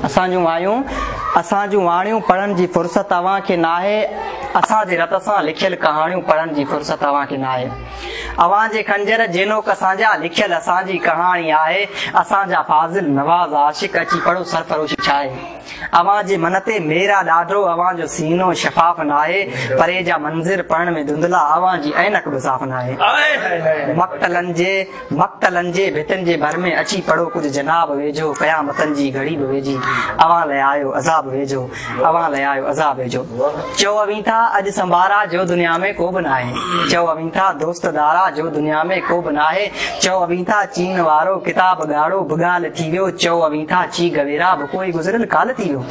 اسان جون وايون، اسان جون واڻيون پڙهڻ جي فرصت اوهان کي ناهي، اسان جي رت سان لکيل ڪهاڻيون پڙهڻ جي فرصت اوهان کي ناهي، اوهان جي خنجر جي نوڪ سان جا لکيل اسان جي ڪهاڻي آهي، اسان جا فاضل نواز عاشق اچي پڙهو سرفروشي ڇاهي، اوهان جي من تي مير آ ڏاڍو، اوهان جو سينو شفاف ناهي، پري جا منظر پڙهڻ ۾ ڌنڌلا، اوهان جي عينڪ به صاف ناهي. مقتلن جي. مقتلن جي ڀتين جي ڀر ۾ اچي پڙهو ڪجهه جناب ويجهو قيامتن جي گهڙي به ويجهي اوهان لئه آيو عذاب ويجهو اوهان لئه آيو عذاب ويجهو چئو اوهين ٿا اڄ سنڀارا جو دنيا ۾ ڪو به ناهي چئو اوهين ٿا دوست دارا جو دنيا ۾ ڪو به ناهي چئو اوهين ٿا چين وارو ڪتاب ڳاڙهو به ڳالهه ٿي ويو چئو اوهين ٿا چي گويرا به ڪوئي گذريل ڪالهه ٿي ويو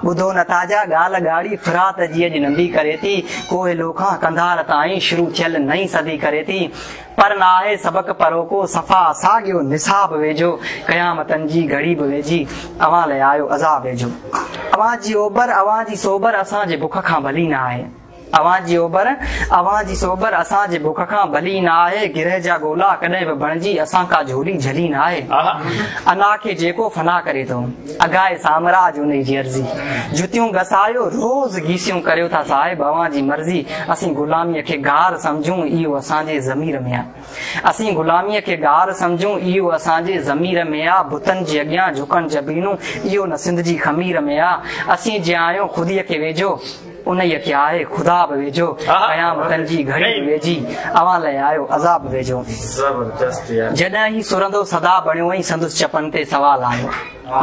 ٻڌو نه ٿا جا ڳالهه ڳاڙهي فرات جي اڄ ننڍي ڪري ٿي ڪوهلو کان قنڌار تائين شروع ٿيل نئين صدي ڪري ٿي پر نه آهي سبق پروکو صفا ساڳيو نصاب ويجهو قيامتن جي گهڙي به ويجهي اوهان لئه آيو عذاب ويجهو اوهان جي اوبر اوهان جي سوبر اسان جي بک کان ڀلي نه آهي اوهان جي اوبر اوهان جي سوبر اسان جي بک کان ڀلي نه آهي گرهه جا گولا ڪڏهن به بڻجي اسان ڪا جهولي جهلي نه آهي انا کي جيڪو فنا ڪري ٿو اگهائي سامراج انهي جي عرضي جتيون گسايو روز گيسيون ڪريو ٿا صاحب اوهان جي مرضي اسين غلامي کي گار سمجهون اهو اسان جي ضمير ۾ آ اسين غلامي کي گار سمجهون اهو اسان جي ضمير ۾ آ بتن جي اڳيان جهڪڻ جبينون اهو نه سنڌ جي خمير ۾ آ اسين جي آهيون خودي کي ويجهو انهيء کي آهي خدا به ويجهو، قيامتن جي گهڙي به ويجهي، اوهان لئه آيو عذاب به ويجهو. جڏهن هي سرندو سدا بڻيو ۽ سندس چپن تي سوال آيو.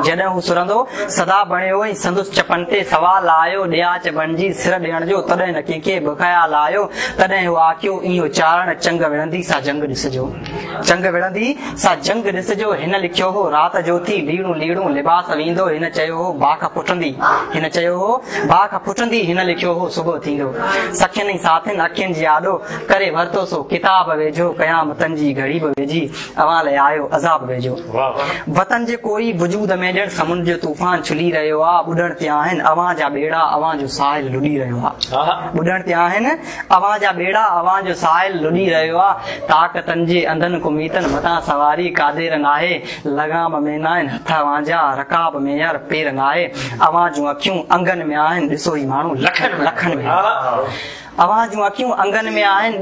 جڏهن هو سرندو سدا بڻيو ۽ سندس چپن تي سوال آيو، ڏياچ بڻجي سر ڏيڻ جو، تڏهن نه ڪنهن کي به خيال آيو. تڏهن هو آکيو، اهو چارڻ چنگ وڙهندي سا جنگ ڏسجو. جنگ وڙهندي سا جنگ ڏسجو هن لکيو هو رات جو ٿي ليڙون ليڙون لباس ويندو هن چيو هو باک پٽندي هن چيو هو باک پٽندي هن لکيو هو صبح ٿيندو سکين ۽ ساٿين اکين جي آڏو ڪري ورتو سو ڪتاب ويجهو قيامتن جي گهڙي به ويجهي اوهان لاء آيو عذاب ويجهو وطن جي ڪوئي وجود ۾ ڄڻ سمنڊ جو طوفان ڇلي رهيو آ ٻڏڻ تي آهن اوهان جا ٻيڙا اوهان جو ساحل لڏي رهيو آ ٻڏڻ تي آهن اوهان جا ٻيڙا اوهان جو ساحل لڏي رهيو آ، طاقتن جي انڌن ڪميتن مٿان سواري قادر ناهي، لغام ۾ ناهن هٿ اوهان جا، رڪاب ۾ يار پير ناهي، اوهان جون اکيون انگن ۾ آهن، ڏسو هي ماڻهو لکن لکن ۾ آهن. اوهان جون اکيون انگن ۾ آهن،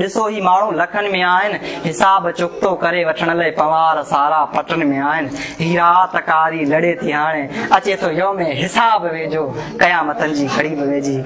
ڏسو هي ماڻهو لکن ۾ آهن، حساب چڪتو ڪري وٺڻ لئي پنوار سارا پٽن ۾ آهن، هي رات ڪاري لڙي ٿي هاڻي، اچي ٿو يوم حساب ويجهو، قيامتن جي گهڙي به ويجهي.